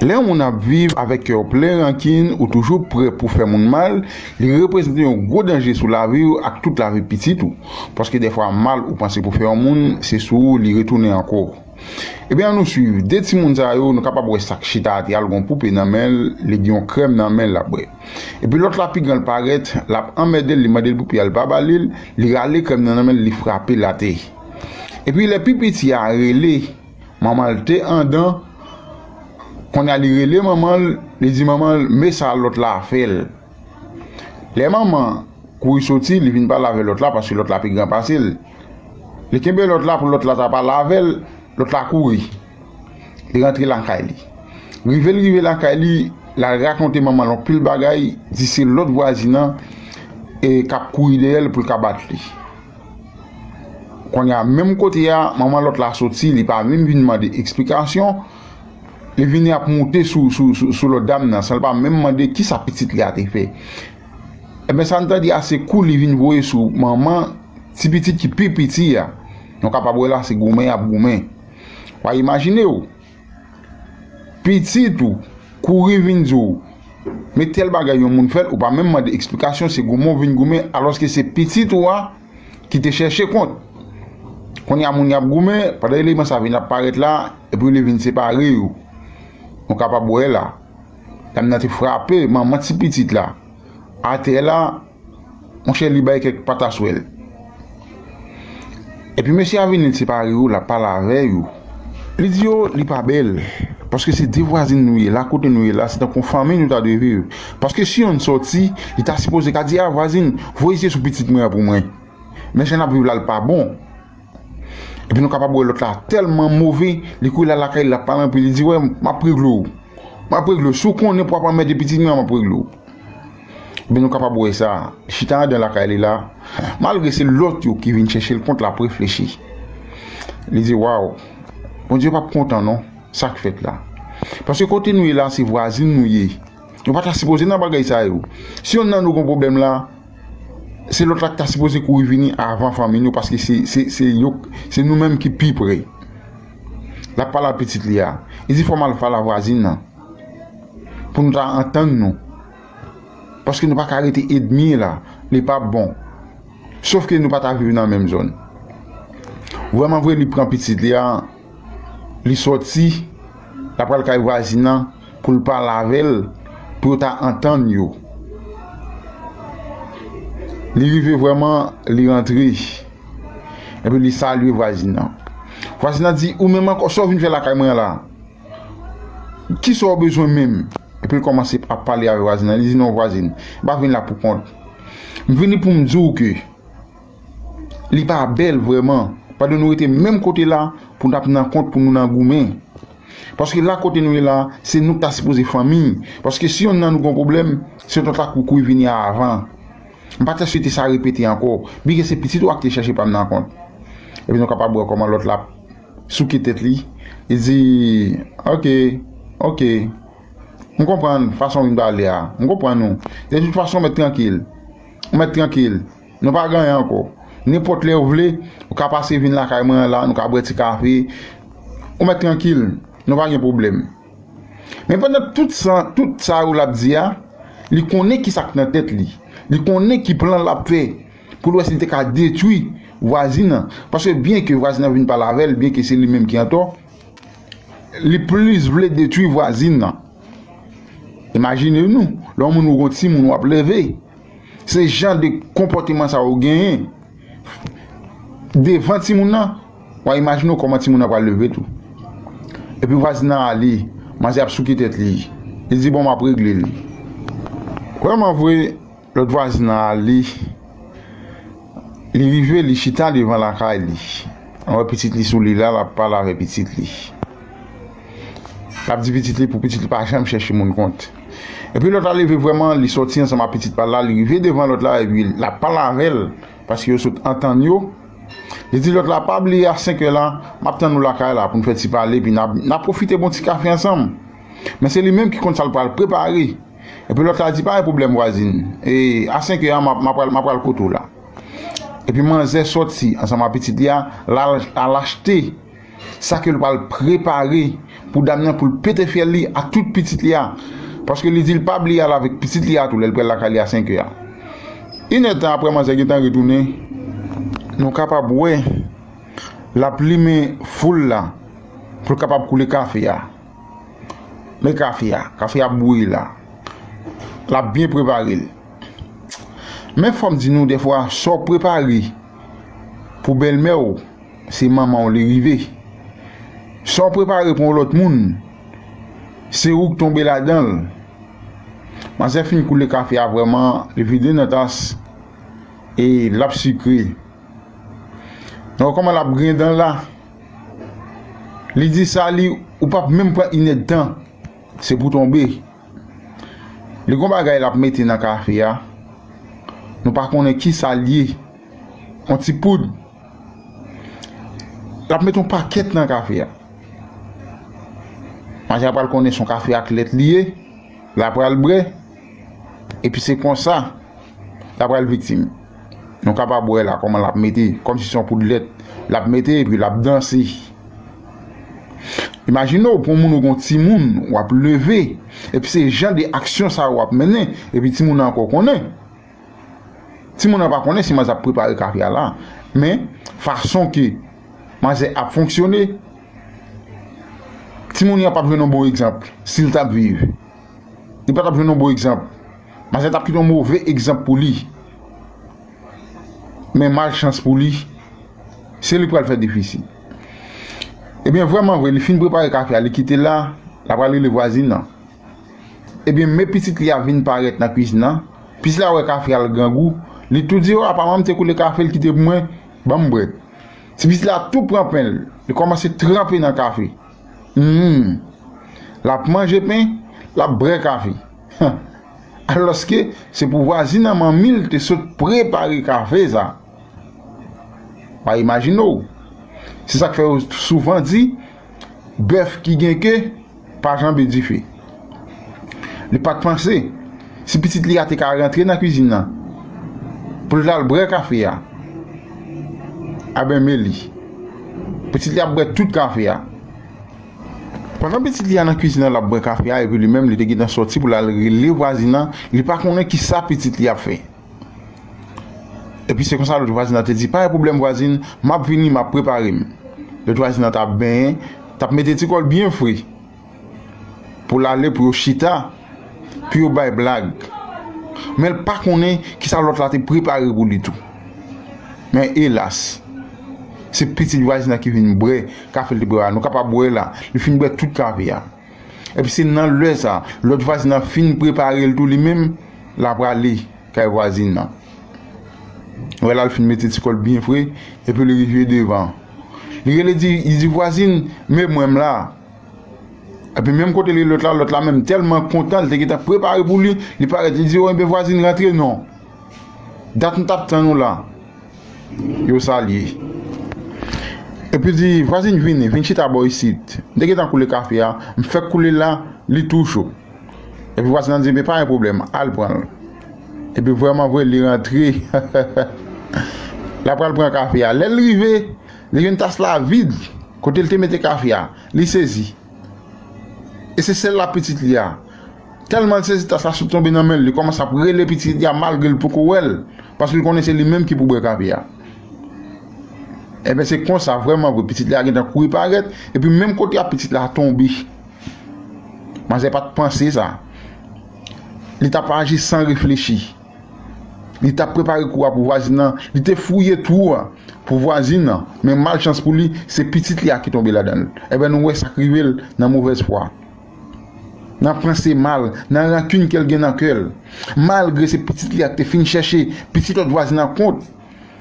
Lè yon moun ap viv avèk kè w plen rankin ou toujou prè pou fè moun mal, li reprezante yon gwo danje sou lavi w ak tout lavi pitit ou. Paske dèfwa mal ou panse pou fè yon moun, se sou ou li retounen ankò. Ebyen an nou swiv 2 timoun sa yo, nou kapab wè sak chita ate al gon poupe nan men l, li gen yon krèm nan men l lap bwè. Epi lòt la pi gran l parèt, lap anmède l, li mande l poupe a li pa ba li l, li rale krèm nan nan men l li frape l ate. Epi lè pi piti a rele. Manman l te andan, kounye a li rele manman l, li di manman l men sa lòt la fè l. Lè manman an kouri soti, li vin pale avèk lòt la paske lòt la pi gran pase l. Li kenbe lòt la pou lòt la ta pale avè l, lòt la kouri. Li rantre lakay li. Rive l rive lakay li, l al rakonte manman l yon pil bagay, di se lòt vwazin an e k ap kouri dèyè l pou l ka bat li. Kounye a, menm kote a, manman lòt la soti, li pa menm vin mande eksplikasyon, li vini ap moute sou lòt dam nan, san l pa menm mande ki sa pitit li a te fè. Enben, sa n ta di a, se kou li vin voye sou manman ti pitit ki pi piti a. Nou kapab wè la se goumen y ap goumen. Wa imajine w! Pitit ou kouri vin di w Men tèl bagay yon moun fè l ou pa menm mande eksplikasyon se goumen w vin goumen alòske se pitit ou a ki te chèche kont Kounye a moun y ap goumen pandan eleman sa vin ap parèt la epi li vin separe yo Nou kapab wè la dam nan te frape manman ti pitit la atè la Monchè li bay kèk pataswèl. Epi mesye a vini separe yo lap pale avè yo. Li di yo li pa bèl. Paske se 2 vwazin nou ye la kote nou ye la se tankou yon fanmi nou ta dwe viv. Paske si yonn sòti li ta sipoze ka di a vwazin voye zye sou pitit mwen an pou mwen. Men jan nap viv la li pa bon. Epi nou kapab wè lòt la tèlman move, li kouri lal lakay li lap pale anpil, li di wè map regle w, map regle w, si w konnen pou w ap anmède pitit mwen an map regle w. Epi nou kapab wè sa, li chita andan lakay li la, malgre se lòt yo ki vin chèche l kont lap reflechi. Li di waw, Bondye pap kontan non, sak fèt la. Paske kote nou ye la se vwazin nou ye, nou pata sipoze nan bagay sa yo. Si yonn nan nou gon pwoblèm la. Se lòt la ki ta sipoze kouri vini avan fanmi nou paske se nou menm ki pi pre. L ap pale ak pitit li a. Li di fò m al pale ak vwazin nan pou nou ta antann nou paske nou pa ka rete edmi la. Li pa p bon. Sofke nou pa ta viv nan menm zòn. Vrèmanvre li pran pitit li a. Li sòti, la pral kay vwazin nan pou l pale avè l, pou yo ta antann yo. Li rive vrèman, li rantre, epi li salye vwazin nan. Vwazin nan di, ou menm ankò, sa w vin fè lakay mwen an la? Ki sa w bezwen menm? Epi l kòmanse ap pale avè vwazin nan, li di, non vwazin, m pa vin la pou kont. M vini pou m di w ke. Li pa bèl vrèman. Padon nou rete menm kote la pou nou tap nan kont pou nou nan goumen. Paske la kote nou ye la se nou ki ta sipoze fanmi. Paske si yonn nan nou gon pwoblèm se yon tanta koukouy vini a avan. M pa ta swete sa repete ankò. Byen ke se pitit ou a ki te chèche pa m nan kont. Epi nou kapab wè kòman lòt la ap souke tèt li. Li di, Ok, ok. M konprann fason w vin pale a. M konprann ou. De tout fason mèt trankil. Ou mèt trankil. Nou pa gen anyen ankò. Nenpòt lè ou vle, ou ka pase vin lakay mwen an la, nou ka bwè ti kafe. Ou mèt trankil. Nou pa gen pwoblèm. Men pandan tout sa, tout sa yo l ap di a, li konnen ki sa k nan tèt li. Li konnen ki plan l ap fè pou l wè si l te ka detwi vwazin nan. Paske byenke vwazin nan vin pale avè l, byenke se li menm ki antò, li plis vle detwi vwazin nan. Imajine nou, lè yon moun ou gen yon timoun w ap leve, Se jan de konpòteman sa ou genyen devan timoun nan, wa imajine w kòman timoun nan pral leve tou. Epi vwazin nan ale, manzè ap souke tèt li, li di bon map regle li. Vrèman vre, lòt vwazin nan ale, li rive li chita devan lakay li, wè pitit li sou li la, lap pale avè pitit li. Lap di pitit li pou pitit li pa janm chèche moun kont. Epi lòt la leve vrèman, li sòti ansanm ak pitit pa l la, li rive devan lòt la epi lap pale avè l, paske yo sot antann yo. Li di lòt la, pa bliye a senkè la, map tann ou lakay la pou n fè ti pale epi na pwofite bon ti kafe ansanm. Men se li menm ki konn sa l pral prepare. Epi lòt la di, pa gen pwoblèm vwazin, e a senkè a ma pral ma pral kote w la. Epi manzè sòti ansanm ak pitit li a, lal achte. sa ke l pral prepare pou dam nan pou l pete fyèl li ak tout pitit li a paske li di l pa bliye al avèk pitit li a tou lè l pral lakay li a senkè a inèd tan aprè manzè gentan retounen nou kapab wè l ap limen foul la pou l kapab koule kafe a men kafe a kafe a ap bouyi la l ap byen prepare l men fò m di nou dèfwa sa w prepare. Pou bèlmè w, se manman w li rive. Sa w prepare pou yon lòt moun, se ou k tonbe ladan l. Manzè fin koule kafe a vrèman, li vide nan tas e l ap sikre. Nan wè kòman l ap griyen dan l la, li di sa li ou p ap menm pran inèdtan, se pou w tonbe. Li gon bagay lap mete nan kafe a nou pa konnen kisal ye on ti poud lap mete on pakèt nan kafe a Maja pral konnen son kafe ak lèt li ye la pral brè epi se konsa la pral viktim. Nou kapab wè la kòman lap mete kòm si se yon poud lèt lap mete epi lap danse. Imajine w pou yon moun ou gen yon timoun wap leve epi se jan de aksyon sa yo wap mennen epi timoun nan ankò konnen. Timoun nan pa konnen si manzè ap prepare kafe a la men fason ke manzè ap fonksyone timoun nan pap jwenn yon bon egzanp si l tap viv. Li pa tap jwenn yon bon egzanp. Manzè tap kite yon move egzanp pou li. Men mal chans pou li, se li pral fè defisi. Ebyen vreman vre li fin prepare kafe a li kite la, la pral rele vwazin nan. Ebyen men pitit li a vin parèt nan kwizin nan, pitit la wè kafe a li grangou, li tou di o apa manman m te koule kafe li kite pou mwen, banm bwè. Ti pitit la tou pran pen li, li kòmanse tranpe nan kafe. Humm. L ap manje pen, l ap bre kafe. Huh. Alòske, se pou vwazin an manmi l te sot prepare kafe sa. Pa imajine w. Se sa k fè yo souvan di, Bèf ki gen ke, pa janbe dife. Li pa t panse si pitit li a te ka rantre nan kuizin nan pou l t al bwè kafe a. Aben men li, pitit li ap bwè tout kafe a. Pandan pitit li a nan kuizin nan l ap bwè kafe a epi li menm li te gentan sòti pou l al rele vwazin nan, li pa konnen ki sa pitit li ap fè. Epi se konsa lòt vwazin nan te di, pa gen pwoblèm vwazin, m ap vini, m ap prepare m. Lòt vwazin nan t ap benyen, t ap mete ti kò l byen fre. pou l ale pou yo chita, pou yo bay blag. Men l pa konnen ki sa lòt la te prepare pou li tou. Men elas! Se pitit vwazin nan ki vin bwè kafe l te prepare a. Nou ka pa bwè la. Li fin bwè tout kafe a. Epi se nan lè sa a, lòt vwazin nan fin prepare l tou li menm, l a prale kay vwazin nan. Wè la l fin mete ti kò l byen fre, epi l rive devan. Li rele di, li di, Vwazin, men mwen m la! Epi menm kote li lòt la, lòt la menm tèlman kontan, li te gentan prepare pou li, li parèt li di, enben vwazin rantre non, dat m t ap tann ou la, yo salye. Epi li di, vwazin vini, vin chita bò isit, m te gentan koule kafe a, m fèk koule l la, li tou cho. Epi vwazin nan di, enben pa gen pwoblèm, al pran l. Epi vrèmanvre li rantre, l ap pran kafe a, lè l rive. Li jwenn tas la vid kote l te mete kafe a. Li sezi. E se sèl la pitit li a. Tèlman l sezi tas la sot tonbe nan men l, li kòmanse ap rele pitit li a malgre l poko wè l, paske l konnen se li menm ki pou bwè kafe a. Enben se konsa, vrèman vre, pitit li a gentan kouri parèt, epi menm kote a pitit la tonbe. Manzè pa t panse sa. Li t ap aji san reflechi. Li t ap prepare kou a pou vwazin nan, li te fouye twou a pou vwazin nan, men malchans pou li, se pitit li a ki tonbe ladan l. Enben, nou wè sa k rive l nan movèzfwa, nan panse mal, nan rankin ke l gen nan kè l. Malgre se pitit li a ki te fin chèche pitit lòt vwazin nan kont,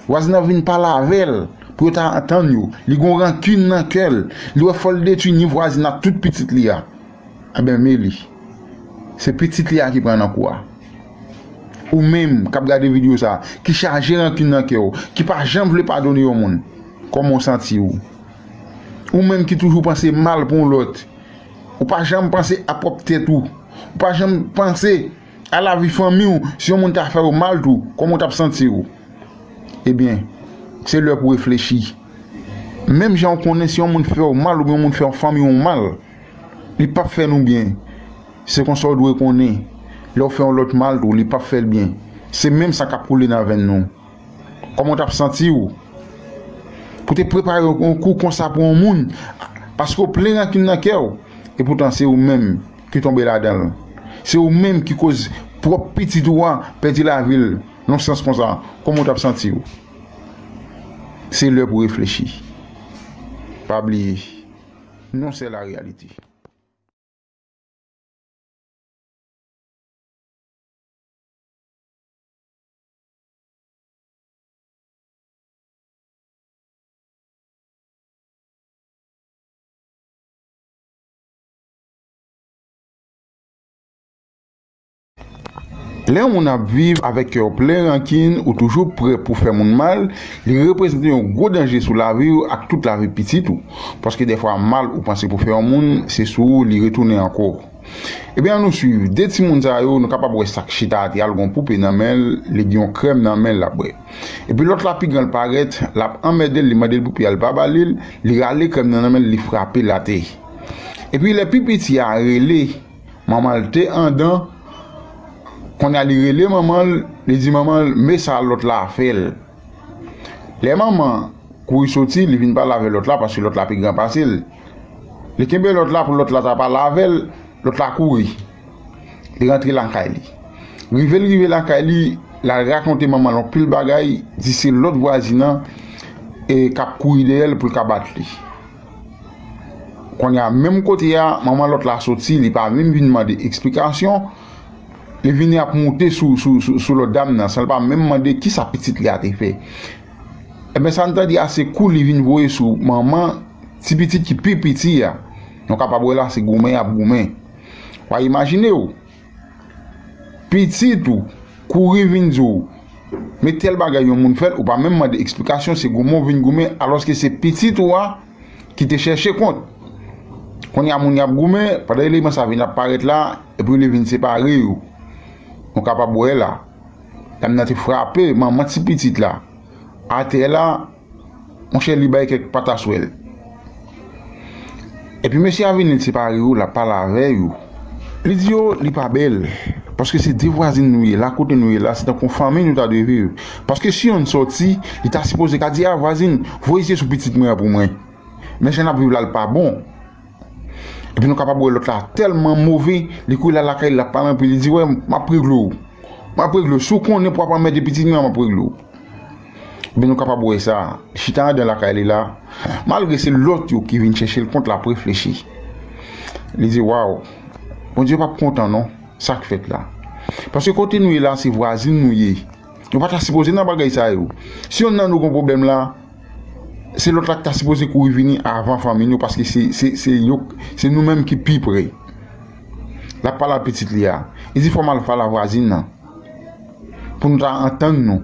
vwazin nan vin pale avè l pou yo ta antann yo. Li gen yon rankin nan kè l, li wè fò l detwi ni vwazin nan ak tout pitit li a. Enben, meli, se pitit li a ki pran nan kou a. Ou menm k ap gade videyo sa a, ki chaje rankin nan kè ou, ki pa janm vle padone yon moun, kòman w santi ou? Ou menm ki toujou panse mal pou yon lòt, ou pa janm panse a pwòp tèt ou, ou pa janm panse a lavi fanmi ou, si yon moun ta fè ou mal tou, kòman w t ap santi ou? Ebyen, se lè pou w reflechi. Menm jan ou konnen si yon moun fè ou mal oubyen yon moun fè fanmi ou mal, Li pap fè nou byen. Se konsa ou dwe konnen. Lè ou fè yon lòt mal tou, li pap fè l byen. Se menm san k ap koule nan venn nou. Kòman ou t ap santi ou? Pou te prepare yon kou konsa pou yon moun, paske ou plen rankin nan kè ou. Epoutan, se ou menm ki tonbe ladan l. Se ou menm ki koz pwòp pitit ou a pèdi lavi l nan sans konsa. Kòman ou t ap santi ou? Se lè pou reflechi. Pa bliye. Non sè la reyalite. Lè yon moun ap viv avèk kè w plen rankin, ou toujou prè pou fè moun mal, li reprezante yon gwo danje sou lavi w ak tout lavi pitit ou. Paske dèfwa mal ou panse pou fè yon moun, se sou ou li retounen ankò. Ebyen an nou swiv de timoun sa yo, nou kapab wè sa k chita atè a l gon poupe nan men l, li gen yon krèm nan men l l ap bwè. Epi lòt la pi gran l parèt, l ap anmède l, li mande l poupe a l pa ba li l, li rale krèm nan nan men l li frape l atè. Epi lè pi piti a rele. Manman l te andan, kounye a li rele manman l, li di manman l, Men sa lòt la fè l. Lè manman an kouri soti, li vin pale avèk lòt la paske lòt la pi gran pase l. Li kenbe lòt la pou lòt la ta pale avè l, lòt la kouri, li rantre lakay li. Rive l rive lakay li, l al rakonte manman l anpil bagay, di se lòt vwazin an k ap kouri dèyè l pou l ka bat li. Konnya menm kote a manman lòt la soti li pa menm vin mande eksplikasyon li vini ap moute sou lòt dam nan san l pa menm mande kisa pitit li a te fè enben sa n ta di a se kou li vin voye sou manman ti pitit ki pi piti a nou kapab wè la se goumen y ap goumen wa imajine w Pitit ou kouri vin di w Men tèl bagay yon moun fèt ou pa menm mande eksplikasyon se goumen w vin goumen alòske se pitit ou a ki te chèche kont Kounye a moun y ap goumen pandan eleman sa vin ap parèt la epi li vin separe yo Nou kapab wè la dam nan te frape manman ti pitit la atè la Monchè li bay kèk pataswèl. Epi mesye a vini li separe yo lap pale avè yo. Li di yo li pa bèl. Paske se 2 vwazin nou ye la kote nou ye la se tankou yon fanmiy nou ta dwe viv. Paske si yonn sòti li ta sipoze ka di a vwazin voye zye sou pitit mwen an pou mwen. Men jan nap viv la li pa bon. Epi nou kapab wè lòt la tèlman move li kouri lal lakay li lap pale anpil li di wè map regle w. Map regle w si w konnen pou wap anmède pitit mwen an map regle w. Ebyen nou kapab wè sa, chita andan lakay li la, malgre se lòt yo ki vin chèche l kont l ap reflechi. Li di, Waw! Bondye pap kontan non, sa k fèt la? Paske kote nou ye la se vwazin nou ye. Nou pa ta sipoze nan bagay sa yo. Si yonn nan nou gen yon pwoblèm la, se lòt la ki ta sipoze kouri vini avan fanmi nou paske se nou menm ki pi pre. L ap pale ak pitit li a, li di fò m al pale ak vwazin nan. pou nou ta antann nou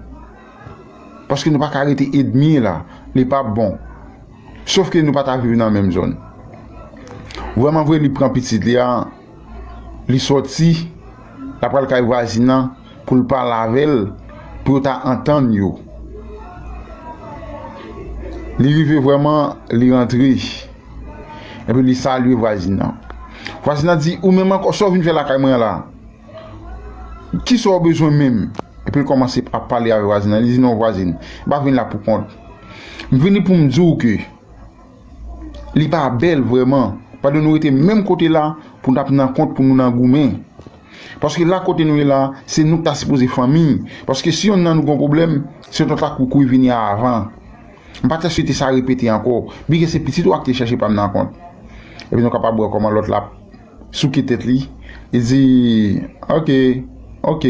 paske nou pa ka rete edmi la li pa p bon sof ke nou pa ta viv nan menm zòn vrèman vre li pran pitit li a li sòti la pral kay vwazin nan pou l pale avè l pou yo ta antann yo li rive vrèman li rantre epi li salye vwazin nan vwazin nan di ou menm ankò sa w vin fè lakay mwen la Kisa ou bezwen menm? Epi l kòmanse ap pale avèk vwazin lan, li di non vwazin, m pa vin la pou kont, m vini pou m di w ke li pa bèl vrèman, pado nou rete menm kote la pou n ap nan kont pou nou nan goumen, paske la kote nou ye la, se nou ki ta sipoze fanmi, paske si yonn nan nou gen yon pwoblèm, se lòt la k pou kouri vini avan, m pa ta swete sa repete ankò, byen ke se pitit ou a ki te chache pa m nan kont, epi nou kapab wè kòman lòt la ap. Souke tèt li, li di, Ok, ok.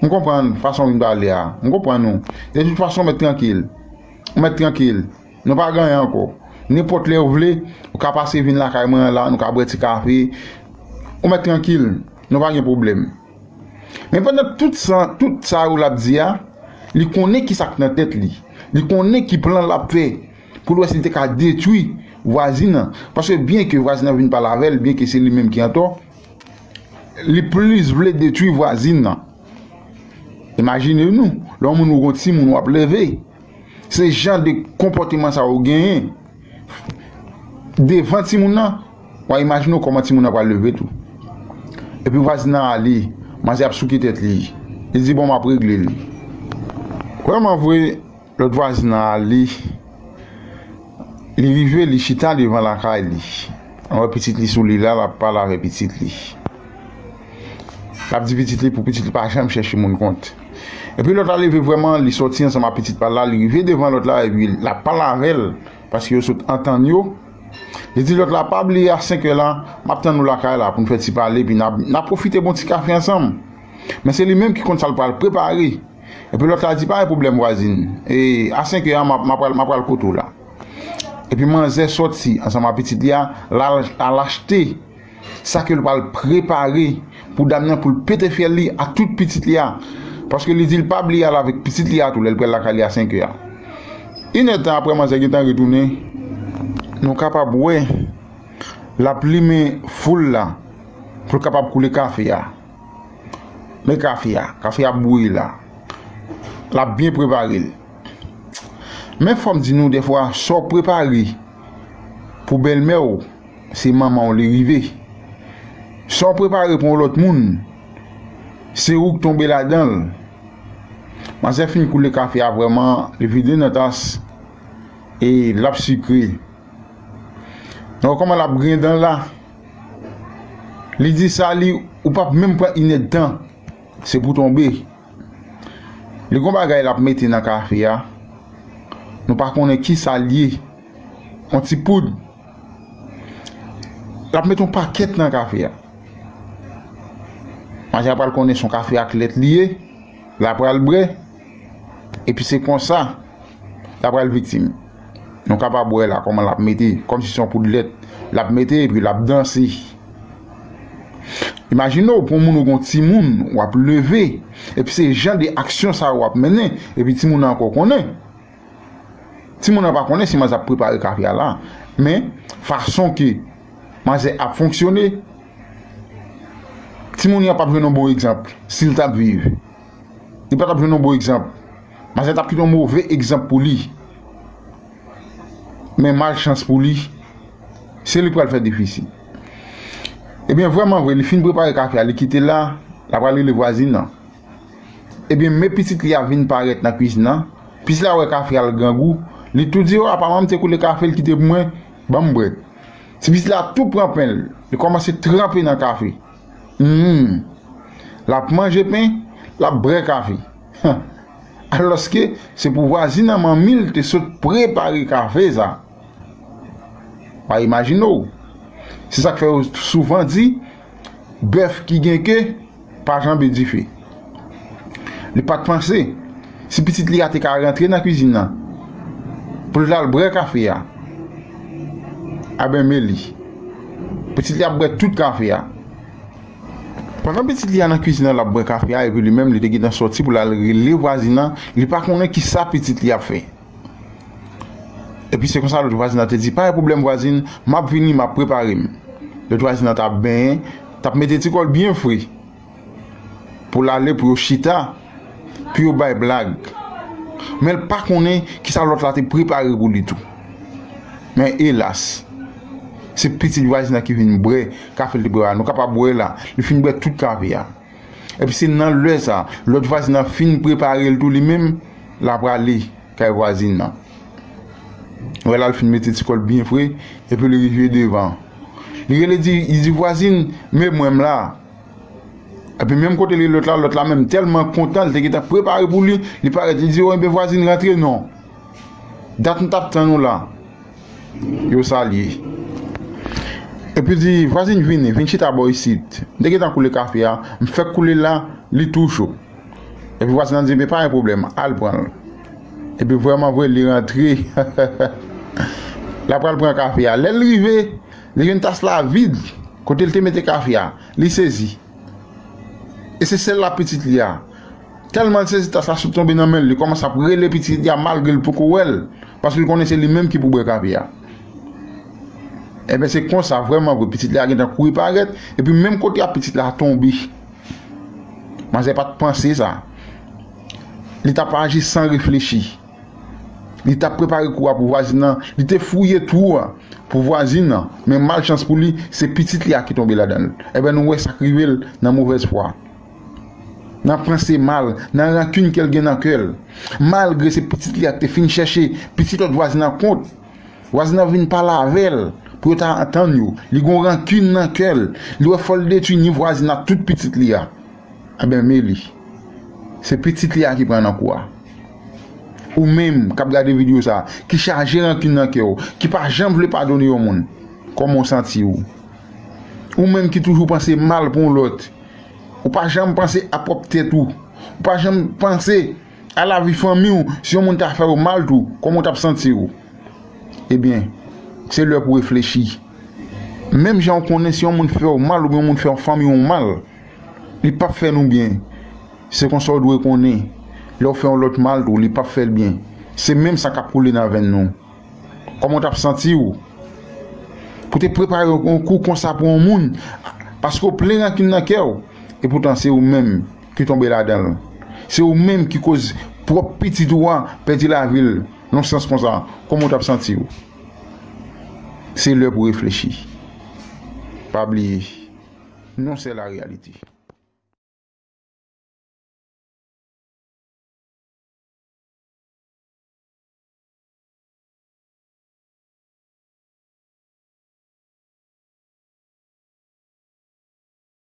M konprann fason w vin pale a. M konprann ou. Detout fason, mèt trankil. Ou mèt trankil. Nou pa ganyan ankò. Nenpòt lè ou vle, ou ka pase vin lakay mwen an la, nou ka bwè ti kafe. Ou mèt trankil. Nou pa gen pwoblèm. Men pandan tout sa, tout sa yo l ap di a, li konnen ki sa k nan tèt li. Li konnen ki plan l ap fè. pou l wè si l te ka detwi vwazin an, paske byen ke vwazin an vin pale avè l, byen ke se li menm ki antò, li plis vle detwi vwazin an. Imajine nou, lè yon moun ou gon ti moun w ap leve, se jan de konpòteman sa ou genyen devan ti moun nan, wa imajine w kòman ti moun nan pral leve tou. Epi vwazin nan ale, manzè ap souke tèt li, li di bon m ap regle li. Vrèman vre. Lòt vwazin nan ale, li rive li chita devan lakay li, li wè pitit li sou li la, lap pale avè pitit li, lap di pitit li pou pitit li pa janm chèche moun kont. Epi lòt la leve vrèman, li sòti ansanm ak pitit pal la, li rive devan lòt la epi lap pale avèl paske yo sot antann yo, li di lòt la pa bliye a senkè la map tann ou lakay la poun fè ti pale epi na pwofite bon ti kafe ansanm. Men se li menm ki konn sal pral prepare. Epi lòt la di pa gen pwoblèm vwazin e a 5 è a map map pral map pral kote w la. Epi manzè sòti ansanm a pitit li a lal al achte sa ke l pral prepare pou dam nan pou l pete fyèl li ak tout pitit li a paske li di l pa bliye al avèk pitit li a tou lè l pral lakay li a 5 è a. Yn èdtan aprè manzè gentan retounen nou kapab wè lap limen foul la pou l kapab koule kafe a. Men kafe a. Kafe a ap bouyi la. L ap byen prepare l. Men fò m di nou dèfwa sa w prepare pou bèlmè w, se manman w li rive. Sa w prepare pou yon lòt moun, se ou k tonbe ladan l. Manzè fin koule kafe a vrèman, li vide nan tas e l ap sikre. Nou wè kòman l ap griyen dan l la? Li di sa li ou pap menm pran inèd tan se pou tonbe Li gon bagay lap mete nan kafe a nou pa konnen kisal ye on ti poud lap met on pakèt nan kafe a Maja pral konnen son kafe ak lèt li ye la pral bre Epi se konsa la pral viktim. Nou kapab wè la kòman lap mete, kòm si se yon poud lèt lap mete epi lap danse. Imajine w pou yon moun ou gon timoun wap leve epi se jan de aksyon sa yo wap mennen epi timoun nan ankò konnen. Timoun nan pa konnen si manzè ap prepare kafe a la men fason ke manzè ap fonksyone timoun yan pap jwenn yon bon egzanp si l tap viv. Li pa t ap jwenn yon bon egzanp. Mazen t ap kite yon move egzanp pou li. Men malchans pou li, se li k pral fè defisi. Ebyen, vrèman vre, li fin prepare kafe a, li kite l la, l apral rele vwazin nan. Ebyen, men pitit li a vin parèt nan kuizin nan. Pitit la wè kafe a, l grangou. Li tou di, O, apa manman m te koule kafe, l kite pou mwen? Ban m bwè. Ti pitit la tou pran pen l, li kòmanse tranpe nan kafe. Humm. L ap manje pen, l ap brè kafe. Huh. Alòske se pou vwazin an manmi l te sot prepare kafe sa. Pa imajine w. Se sa k fè yo souvan di, Bèf ki gen ke pa janbe dife. Li pa t panse si pitit li a te ka rantre nan kizin nan pou l t al bwè kafe a. Aben men li. Pitit li ap bwè tout kafe a. Pandan pitit li a nan kizin nan l ap bwè kafe a epi li menm li te gentan sòti pou l al rele vwazin nan, li pa konnen ki sa pitit li ap fè. Epi se konsa lòt vwazin nan te di, pa gen pwoblèm vwazin, m ap vini, m ap prepare m. Lòt vwazin nan t ap benyen, t ap mete ti kò l byen fre. pou l ale pou yo chita, pou yo bay blag. Men l pa konnen ki sa lòt la te prepare pou li tou. Men elas! Se pitit vwazin nan ki vin bwè kafe l te prepare. Nou ka pa bwè la. Li fin bwè tout kafe a. Epi se nan lè sa, lòt vwazin nan fin prepare l tou li menm, l a prale kay vwazin nan. Wè la l fin mete ti kò l byen fre, epi l rive devan. Li rele di, li di, Vwazin, men mwen m la. Epi menm kote li lòt la, lòt la menm tèlman kontan, li te gen tan prepare pou li, li parèt, li di yo, enben vwazin rantre non. Dat m t ap tann ou la. Yo salye. Epi l di, vwazin vini, vin chita bò isit. M te gen tan koule kafe a, m fèk koule l la, li tou cho. Epi vwazin lan di, enben pa gen pwoblèm, al pran l. Epi vrèmanvre li rantre, l apral pran kafe a. Lè l rive. Li jwenn tas la vid kote l te mete kafe a. Li sezi. E se sèl la pitit li a. Tèlman l sezi tas la sot tonbe nan men l, li kòmanse ap rele pitit li a malgre l poko wè l, paske l konnen se li menm ki pou bwè kafe a. Enben se konsa, vrèman vre, pitit li a gentan kouri parèt, epi menm kote a pitit la tonbe. Manzè pa t panse sa. Li t ap aji san reflechi. Li t ap prepare kou a pou vwazin nan, li te fouye twou a pou vwazin nan, men malchans pou li, se pitit li a ki tonbe ladan l. Enben, nou wè sa k rive l nan movèzfwa, nan panse mal, nan rankin ke l gen nan kè l. Malgre se pitit li a ki te fin chèche pitit lòt vwazin nan kont, vwazin nan vin pale avè l pou yo ta antann yo. Li gen yon rankin nan kè l, li wè fò l detwi ni vwazin nan ak tout pitit li a. Anben Meli. Se pitit li a ki pran nan kou a. Ou menm kap gade video sa, ki chaje rankin nan kè ou, ki pa janm vle padone yon moun, kòman ou santi ou? Ou menm ki toujou panse mal pou yon lòt, ou pa janm panse a pwòp tèt ou, ou pa janm panse a lavi fanmi ou, si yon moun ta fè ou mal tou, kòman ou tap santi ou? Ebyen, se lè pou reflechi. Menm jan ou konnen si yon moun fè ou mal oubyen yon moun fè fanmi ou mal, Li pap fè nou byen. Se konsa w dwe konnen. Lè w fè yon lòt mal tou, li pap fè l byen. Se menm san k ap koule nan venn nou. Kòman w t ap santi w? Pou w te prepare yon kou konsa pou yon moun, paske w plen rankin nan kè w. Epoutan, se ou menm ki tonbe ladan l. Se ou menm ki koz pwòp pitit ou a pèdi lavi l nan yon sans konsa. Kòman w t ap santi w? Se lè pou w reflechi. Pa bliye. Non sè la reyalite.